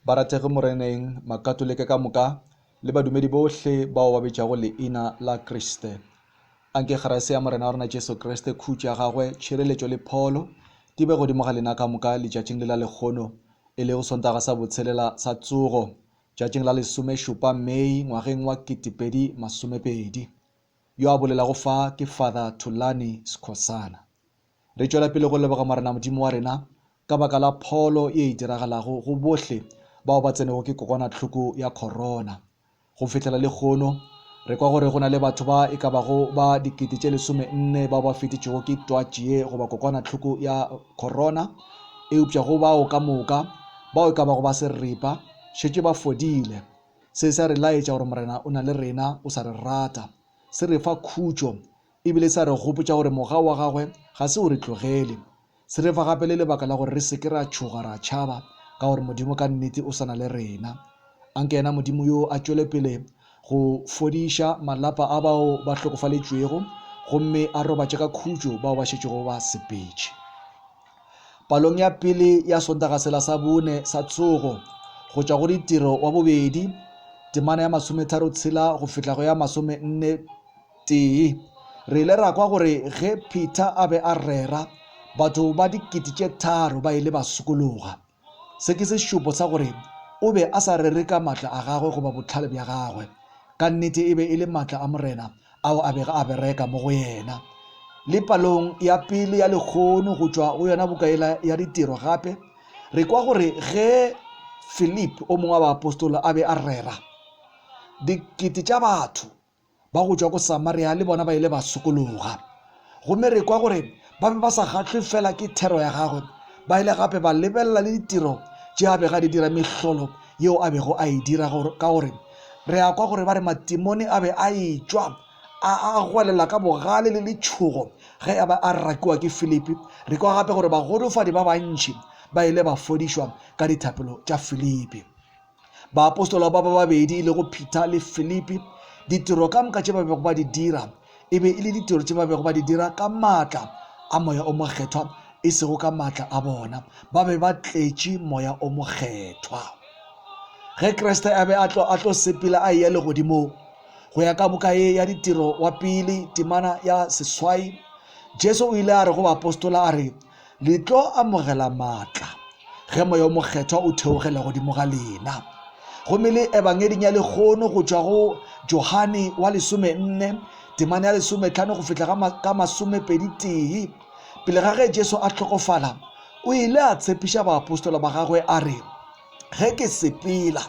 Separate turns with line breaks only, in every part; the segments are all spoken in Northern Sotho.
Barategi Moreneng, Makatolike ka moka le badumedi bohle bao ba bitšago leina la Kriste. A nke kgerase ya Morena wa rena Jesu Kriste, khutšo ya Gagwe, tšhireletšo le pholo di be godimo ga lena ka moka letšatšing le la lekgono, e lego Sontaga sa Botshelela sa Tsogo, tšatšing la lesomešupa Mei ngwageng wa ketepedi masomepedi. Yo a bolelago fa ke Father Thulani Skhosana. Re tšwela pele go leboga Morena Modimo wa rena ka baka la pholo ye e diragalago go bohle bao ba tsenego ke kokwanahloko ya khorona. Go fihlela lekgono, re kwa gore go na le batho ba e ka bago ba dikete tše lesome nne bao ba fetetšwego ke twatši ye goba kokwanahloko ya khorona, eupša go bao ka moka, bao e ka bago ba seripa, šetše ba fodile. Se se a re laetša gore Morena o na le rena, o sa re rata. Se re fa khutšo e bile sa re gopotša gore moga wa gagwe ga se o re tlogele. Se re fa gape le lebaka la gore re se ke ra tšhoga ra tšhaba ka gore Modimo ka nnete o sa na le rena. A nke yena Modimo yoo a tšwele pele go fodiša malapa a bao ba hlokofaletšwego gomme a robatše ka khutšo bao ba šetšego ba sepetše. Palong ya pele ya Sontagasela sa bone sa tsogo go tšwa go ditiro wa bobedi, temana ya masometharo tshela go fihla go ya masomenne, Tee. Re ile ra kwa gore ge Peter a be a rera, batho ba dikete tše tharo ba ile ba sokologa. Se ke sešupo sa gore o be a sa rere ka matla a gagwe goba bohlale bja gagwe. Ka nnete e be e le matla a Morena ao a bego a bereka mo go yena. Le palong ya pele ya lekgono go tšwa go yona buka yela ya Ditiro gape, re kwa gore ge Philip, o mongwe wa baapostola, a be a rera, dikete tša batho Ba go tšwa ko Samaria le bona ba ile ba sokologa. Gomme re kwa gore ba be ba sa kgahlwe fela ke thero ya gagwe, ba ile gape ba lebelela le ditiro tše a bego a di dira, mehlolo yeo a bego a e dira, ka gore re a kwa gore ba re matimone a be a etšwa a a gwelela ka bogale le letšhogo ge a be a rakiwa ke Filipi. Re kwa gape gore bagolofadi ba bantši ba ile ba fodišwa ka dithapelo tša Filipi. Baapostola ba ba babedi e lego Peter le Filipi, ditiro ka moka tše ba bego ba di dira e be e le ditiro tše ba bego ba di dira ka maatla a Moya o Mokgethwa, e sego ka maatla a bona. Ba be ba tletše Moya o Mokgethwa. Ge Kriste a be a tlo, a tlo sepela a eya legodimong, go ya ka buka ye ya Ditiro wa Pele, temana ya seswai, Jesu o ile a re go baapostola a re, Le tlo amogela maatla ge Moya o Mokgethwa o theogela godimo ga lena. Gomme le Ebangeding ya Lekgono go tšwa go Johane wa lesome nne, temana ya lesome tlhano go fihla ga ka masome pedi tee, pele ga ge Jesu a hlokofala, o ile a tshepiša baapostola ba gagwe a re, ge ke sepela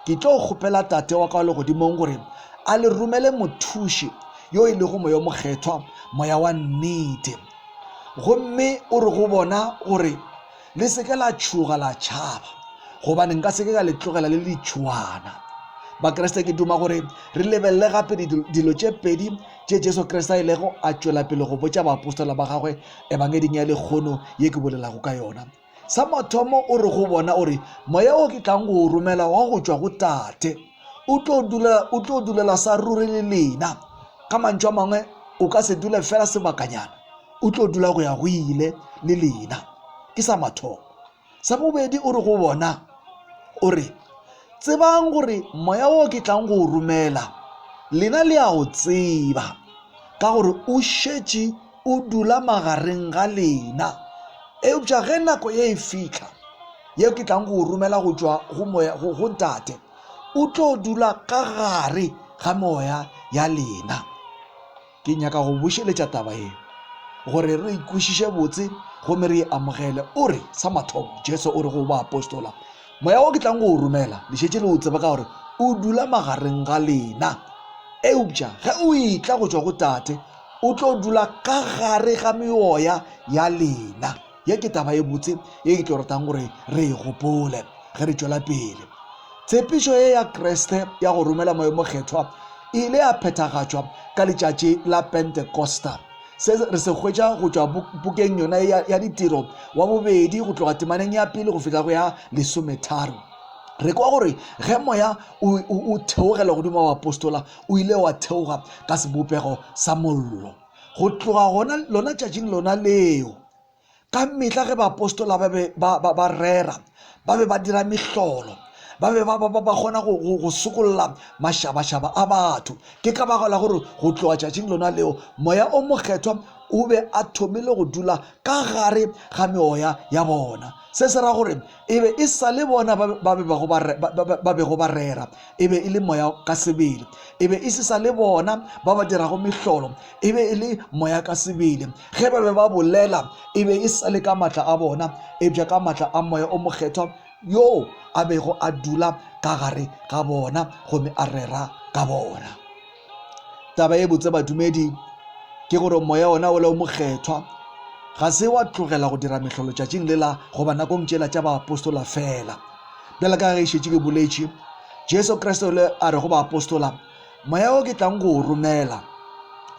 ke tlo kgopela tate wa ka wa legodimong gore a le romele mothuši yo e lego moya mokgethwa moya wa nnete gomme o re go bona gore le seke la tšhoga la tšhaba gobane nka seke ka le tlogela le ditšhoana bakriste ke duma gore re lebelele gape dilo tše pedi tše jesu kriste a ilego a tšwela pele go botša baapostola ba gagwe ebangeding ya lekgono ye ke bolelago ka yona Sa mathomo o re go bona, o re, Moya wo ke tlang go o romela wa go tšwa go Tate, o tlo dula, o tlo dulela sa ruri le lena. Ka mantšu a mangwe, o ka se dule fela sebakanyana, o tlo dula go ya go ile le lena. Ke sa mathomo. Sa bobedi o re go bona, o re, Tsebang gore moya wo ke tlang go o romela, lena le a o tseba, ka gore o šetše O dula magareng ga lena. Eupša ge nako ye e fihla, yeo ke tlang go o romela go tšwa go moya go, go Ntate, o tlo dula ka gare ga moya ya lena. Ke nyaka go bušeletša taba ye gore re ikwešiše botse gomme re e amogele. O re, sa mathomo, Jesu o re go baapostola, Moya wo ke tlang go o romela, le šetše le o tseba ka gore o dula magareng ga lena. Eupša ge o etla go tšwa go Tate, O tlo dula ka gare ga meoya ya lena. Ye ke taba e botse ye ke tlo ratang gore re e gopole ge re tšwela pele. Tshepišo ye ya Kriste ya go romela Moya o Mokgethwa e ile ya phethagatšwa ka letšatši la Pentekosta. Se re se hwetša go tšwa pukeng yona ya, ya Ditiro wa bobedi go tloga temaneng ya pele go fihla go ya lesometharo. Re kwa gore ge Moya o, o, o theogela godimo wa bapostola, o ile wa theoga ka sebopego sa mollo. Go tloga gona lona tšatšing lona leo, ka mehla ge baapostola ba be ba, ba, ba rera, ba be ba dira mehlolo, ba be ba, ba, ba, ba kgona go, go, go sokolola mašabašaba a batho. Ke ka bago la gore go tloga tšatšing lona leo, Moya o Mokgethwa o be a thomile go dula ka gare ga meoya ya bona. Se se ra gore E be e sa le bona ba ba bego ba re- ba- ba- ba bego ba rera, e be e le Moya ka sebele. E be e se sa le bona ba ba dirago mehlolo, e be e le Moya ka sebele. Ge ba be ba bolela, e be e sa le ka matla a bona, eupša ka matla a Moya o Mokgethwa yoo a bego a dula ka gare ga bona gomme a rera ka bona. taba e botse badumedi ke gore moya ona o le o mokgethwa ga se wa tlogela go dira mehlolo tšatšing lela goba nakong tšela tša baapostola fela bjale ka ge e šetše ke boletše jesu kriste o le a re go baapostola moya o ke tlang go o romela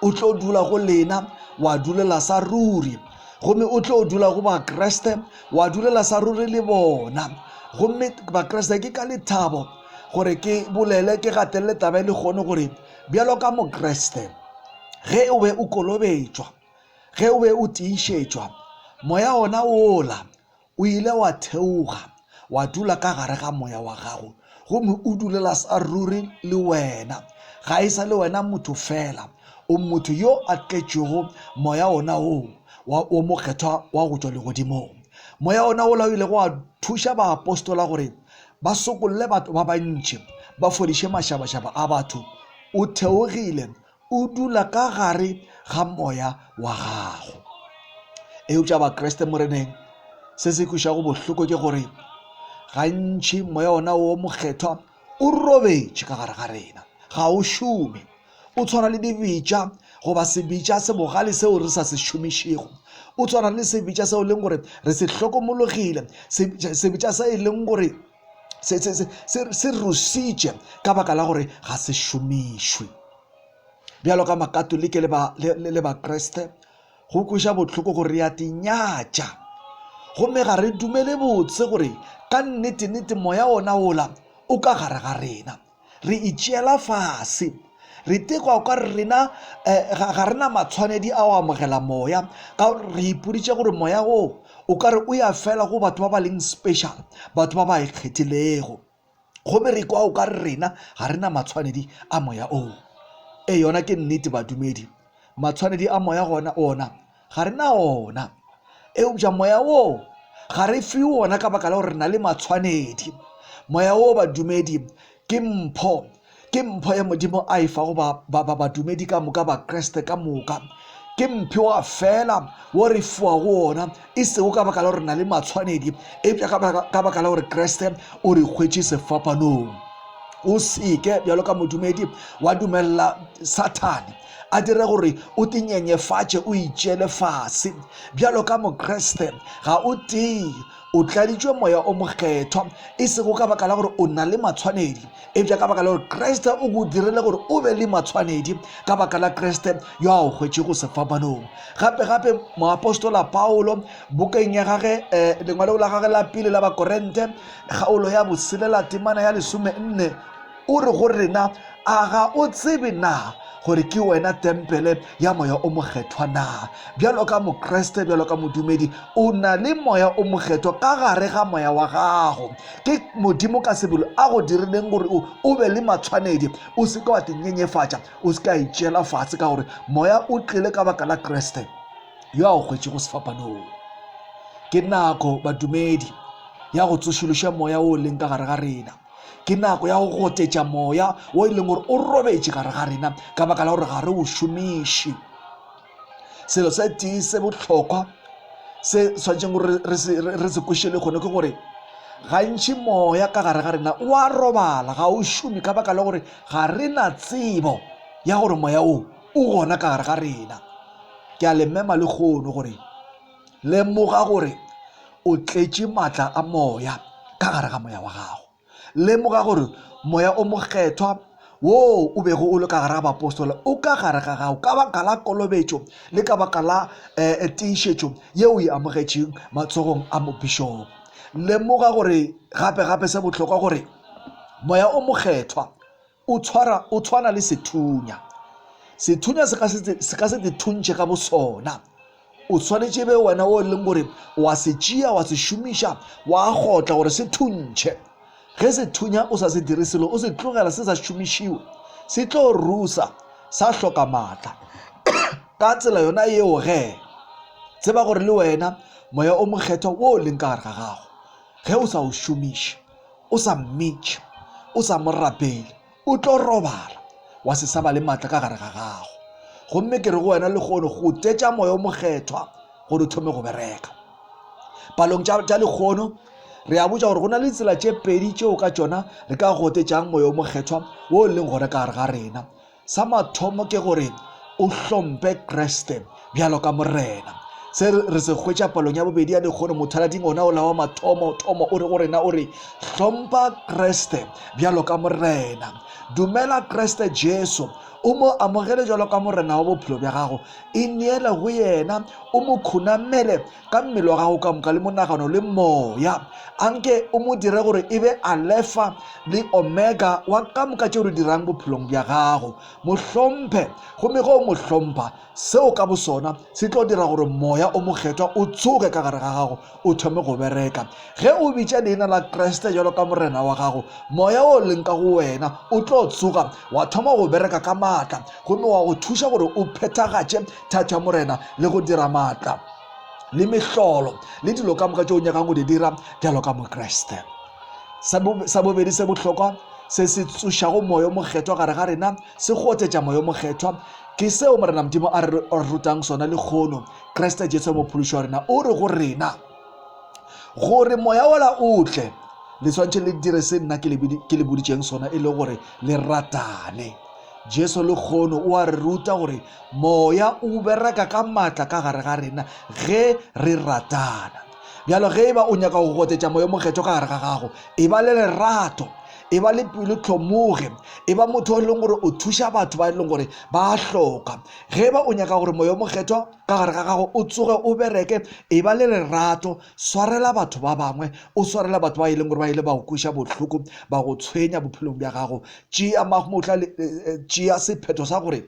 o tlo dula go lena wa dulela sa ruri gomme o tlo dula go bakreste wa dulela sa ruri le bona gomme bakreste ke ka lethabo gore ke bolele ke gatelele taba e le kgone gore bjalo ka mokreste ge o be o kolobetšwa ge o be o tiišetšwa moya ona wola o ile wa theoga wa dula ka gare ga moya wa gago gomme o dulela sa ruri le wena ga e sa le wena motho fela o motho yo a tletšego moya ona woo wa mokgethwa wa go tšwa legodimong moya ona wola o ilego wa thuša baapostola gore ba sokolle batho ba bantši, ba fodiše mašabašaba a batho, o theogile, o dula ka gare ga moya wa gago. Eupša Bakriste moreneng, se se kwišago bohloko ke gore gantši moya ona wo mokgethwa o robetše ka gare ga rena, ga o šome. O tshwana le dibitša goba sebitša se bogale seo re sa se šomišego. O tshwana le sebitša seo e leng gore re se hlokomologile, sebitša se e leng gore se rusitše ka baka la gore ga se šomišwe. Bjalo ka Makatolike le Bakriste, go kweša bohloko gore re a di nyatša gomme ga re dumele botse gore ka nnete-nnete moya wona wola o ka gare ga rena. Re itšeela fase. Re tekwa o ka re rena eh, ga, ga rena matshwanedi a go amogela moya ka gore re ipoditše gore moya wo o ka re o ya fela go batho ba ba leng special batho ba ba ikgethilego gomme re kwa o ka re rena ga rena matshwanedi a moya oo e yona ke nnete badumedi matshwanedi a moya gona ona Ga re na wona. Eupša Moya woo ga re fiwe wona ka baka la gore re na le matshwanedi. Moya woo, badumedi, ke mpho. Ke mpho ye Modimo a e fago ba, ba, ba, badumedi ka moka, Bakriste ka moka. Ke mphiwa fela wo re fiwago wona, e sego ka baka la gore re na le matshwanedi, eupša ka baka, ka baka la gore Kriste o re hwetše sefapanong. O seke, bjalo ka modumedi, wa dumelela Sathane a dire gore o te nyenyefatše o itšeele fase bjalo ka mokreste ga o tee o tladitšwe moya o mokgethwa e sego ka baka la gore o na le matshwanedi ebja ka baka la gore kreste o go dirile gore o be le matshwanedi ka baka la kreste yo a o hwetšego sefapanong gape gape moapostola paulo bokeng ya gage eh, lengwalego la gage la pele la bakorente kgaolo ya boselela temana ya lesome nne O re go rena, A ga o tsebe na gore ke wena tempele ya Moya o Mokgethwa na? Bjalo ka Mokriste, bjalo ka modumedi, o na le Moya o Mokgethwa ka gare ga moya wa gago. Ke Modimo ka sebelo a go dirileng gore o, o be le matshwanedi. O se ke wa te nyenyefatša, o se ke a itšeela fatshe, ka gore Moya o tlile ka baka la Kriste yo a o hwetšego sefapanong. Ke nako, badumedi, ya go tsošološa Moya o leng ka gare ga rena. Ke nako ya go gotetša moya wo e leng gore o robetše gare ga rena ka baka la gore ga re o šomiše. Selo se tee se bohlokwa se tshwanetseng gore re se kwešele kgone ke gore gantši moya ka gare ga rena o a robala ga o šome ka baka la gore ga re na tsebo ya gore moya o o gona ka gare ga rena. Ke a le mema le kgono gore Lemoga gore o tletše maatla a Moya ka gare ga moya wa gago. Lemoga gore Moya o Mokgethwa woo o bego o le ka gare ga bapostola o ka gare ga gago ka baka la kolobetšo le ka baka la eh, tiišetšo yeo o e amogetšeng matsogong a mobišopo. Lemoga gore gape-gape se bohlokwa gore Moya o Mokgethwa O tshwara, o tshwana le sethunya. Sethunya se ka se, se ka se te thuntšhe ka bosona. O swanetše be wena o e leng gore wa se tšea wa se šomiša wa gotla gore se thuntšhe. Ge sethunya o sa se dire selo o se tlogela se sa šomišiwe, se tlo rusa sa hloka maatla. Ka tsela yona yeo ge, tseba gore le wena Moya o Mokgethwa wo o leng ka gare ga gago, ge o sa o šomiše, O sa mmitše, o sa mo rapele, o tlo robala, wa se sa ba le matla ka gare ga gago. Gomme ke re go wena lehono, go tetša Moya o Mokgethwa gore o thome go bereka. Palong tša, tša lehono, re a botša gore go na le ditsela tše pedi tšeo ka tšona re ka gotetšang Moya o Mokgethwa wo o leng gona ka gare ga rena. Sa mathomo ke gore o hlompe Kriste bjalo ka Morena. Se re se hwetša palong ya bobedi ya dikgono, mothalading ona o lawa mathomo thomo o re go rena o re, Hlompa Kriste bjalo ka Morena. Dumela Kriste Jesu, o mo amogele bjalo ka Morena wa bophelo bja gago, ineele go yena, o mo khunamele ka mmele wa gago ka moka le monagano le moya a nke o mo dire gore e be alefa le omega wa ka moka tšeo re dirang bophelong bja gago mo hlomphe gomme ge o mo hlompha seo ka bosona se tlo dira gore moya o mokgethwa o tsoge ka gare ga gago o thome go bereka ge o bitša leina la kriste jalo ka morena wa gago moya o leng ka go wena o tlo tsoga wa thoma go bereka ka maatla gomme wa go thuša gore o phethagatše thatša morena le go dira maatla le mehlolo le dilo ka moka tše o nyakang go di dira bjalo ka mokreste sa bobedi se bohlokwa se se tsošago moyo mokgethwa gare ga rena se gotetša moyo mokgethwa ke seo morena modimo a re rutang sona le kgono kriste jesu mophološi wa rena o re go rena gore moya ola o tle le tshwanetse le dire se nna ke le boditšeng sona e le gore le ratane Jesu lekgono o a re ruta gore moya o bereka ka matla ka gare ga rena ge re ratana. Bjalo ge eba o nyaka go gotetša moya mokgetho ka gare ga gago, eba le lerato e ba le pelo tlhomoge e ba motho o e leng gore o thuša batho ba e leng gore ba a hloka ge ba o nyaka gore moya mokgethwa ka gare ga gago o tsoge o bereke e ba le lerato swarela batho ba bangwe o swarela batho ba e leng gore ba ile ba go kweša bohloko ba go tshwenya bophelong bja gago tšea mahmotla le tšea sephetho sa gore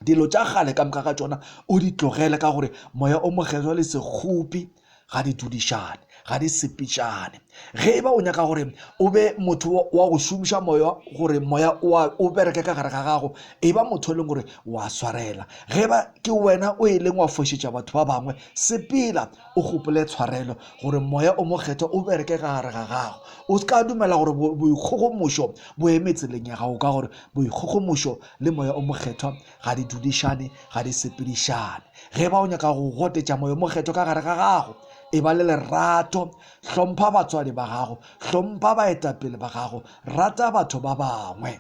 dilo tša gale ka moka ga tšona o di tlogele ka gore moya o mokgethwa le sekgopi ga di dudišane ga di sepitšane ge e ba o nyaka gore o be motho wa go šomiša moya gore moya o bereke ka gare ga gago e ba motho e leng gore wa swarela ge ba ke wena o e leng wa fošetša batho ba bangwe sepela o gopole tshwarelo gore moya o mokgethwa o bereke ka gare ga gago o se ka dumela gore boikgogomošo bo eme tseleng ya gago ka gore boikgogomošo le moya o mokgethwa ga di dudišane ga di sepedišane ge ba o nyaka go gotetša moya o mokgethwa ka gare ga gago e ba le lerato hlompha batswadi ba gago hlompha baetapele ba gago rata batho ba bangwe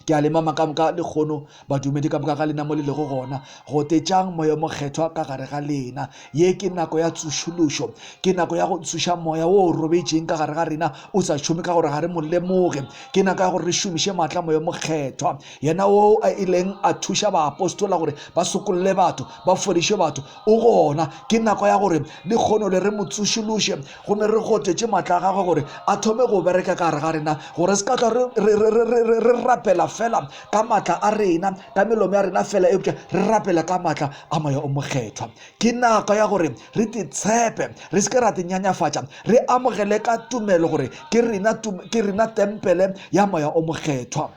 ke a le mama ka moka lekgono badumedi ka moka ga lena mo le lego gona go tetšang moya mokgethwa ka gare ga lena ye ke nako ya tsošološo ke nako ya go tsoša moya wo o robetšeng ka gare ga rena o sa šome ka gore ga re mo lemoge ke nako ya gore re šomiše maatla moya mokgethwa yena wo a e leng a thuša baapostola gore ba sokolle batho ba fodiše batho o gona ke nako ya gore le kgono le re mo tsošološe Gomme re gotetše maatla a gagwe gore a thome go bereka ka gare ga rena, gore se ka hlwa re, re, re, re, re, re rapela fela ka maatla a rena, ka melomo ya rena fela, eupša re rapela ka maatla a Moya o Mokgethwa. Ke nako ya gore re te tshepe, re se ke ra te nyanyafatša, re amogele ka tumelo gore ke rena, ke rena tempele ya Moya o Mokgethwa.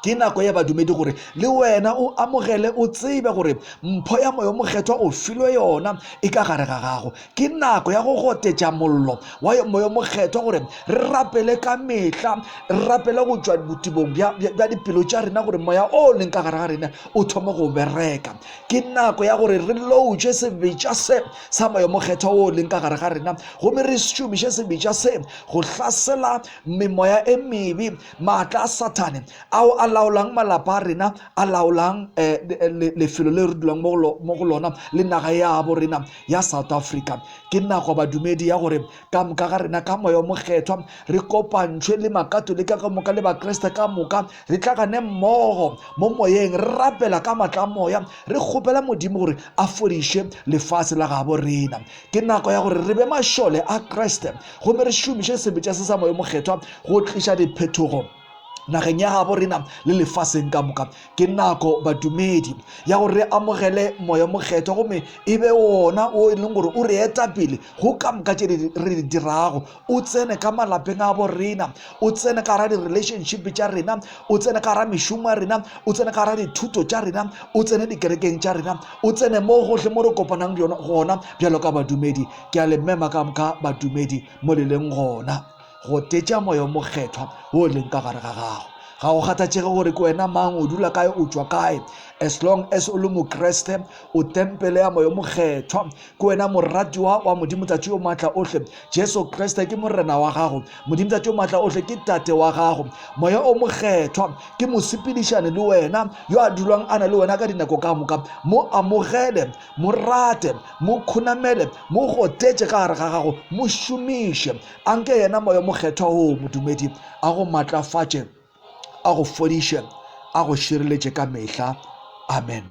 ke nako ya badumedi gore le wena o amogele o tsebe gore mpho ya moyo mokgethwa o filwe yona e ka gare ga gago ke nako ya go gotetša mollo wa moyo mokgethwa gore re rapele ka mehla re rapele go tšwa botibong bja dipelo tša rena gore moya o leng ka gare ga rena o thome go bereka ke nako ya gore re loutše sebetša se sa moyo mokgethwa o leng ka gare ga rena gomme re šomiše sebetša se go hlasela memoya e mebe Maatla a Sathane ao a laolang malapa a rena, a laolang lefelo le re dulang mo go lona le naga ya bo rena ya South Africa. Ke nako badumedi ya gore ka moka ga rena ka Moya o Mokgethwa re kopantšhwe le Makatolika ka moka le Bakriste ka moka, re tlagane mmogo mo moyeng re rapela ka matla a moya re kgopela Modimo gore a fodiše lefase la gabo rena. ke nako ya gore re be mašole a kriste gomme re šomiše sebetša se sa moyo mokgethwa go tliša diphethogo nageng ya gabo rena le lefaseng ka moka ke nako badumedi ya gore re amogele moya mokgethwa gomme e be wona o e leng gore o re eta pele go ka moka tše re di dirago o tsene ka malapeng a bo rena o tsene ka gara di-relationship tša rena o tsene ka gara mešomo ya rena o tsene ka gara dithuto tša rena o tsene dikerekeng tša rena o tsene mo gohle mo re kopanang gona bjalo ka badumedi ke a le mema ka moka badumedi mo le leng gona go tetša moya o mokgethwa o leng ka gare ga gago ga go kgathatšege gore ke wena mang o dula kae o tšwa kae as long as o le mokreste o tempele ya moya mokgethwa Ke wena moratiwa wa Modimo Tate yo Maatla Ohle. Jesu Kriste ke Morena wa gago. Modimo Tate yo Maatla Ohle ke Tate wa gago. Moya o Mokgethwa ke mosepedišane le wena yo a dulwang a na le wena ka dinako ka moka. Mo amogele, mo rate, mo khonamele, mo gotetše ka gare ga gago, mo šomiše. A nke yena Moya Mokgethwa oo modumedi a go matlafatše, a go fodiše, a go šireletše ka mehla. Amen.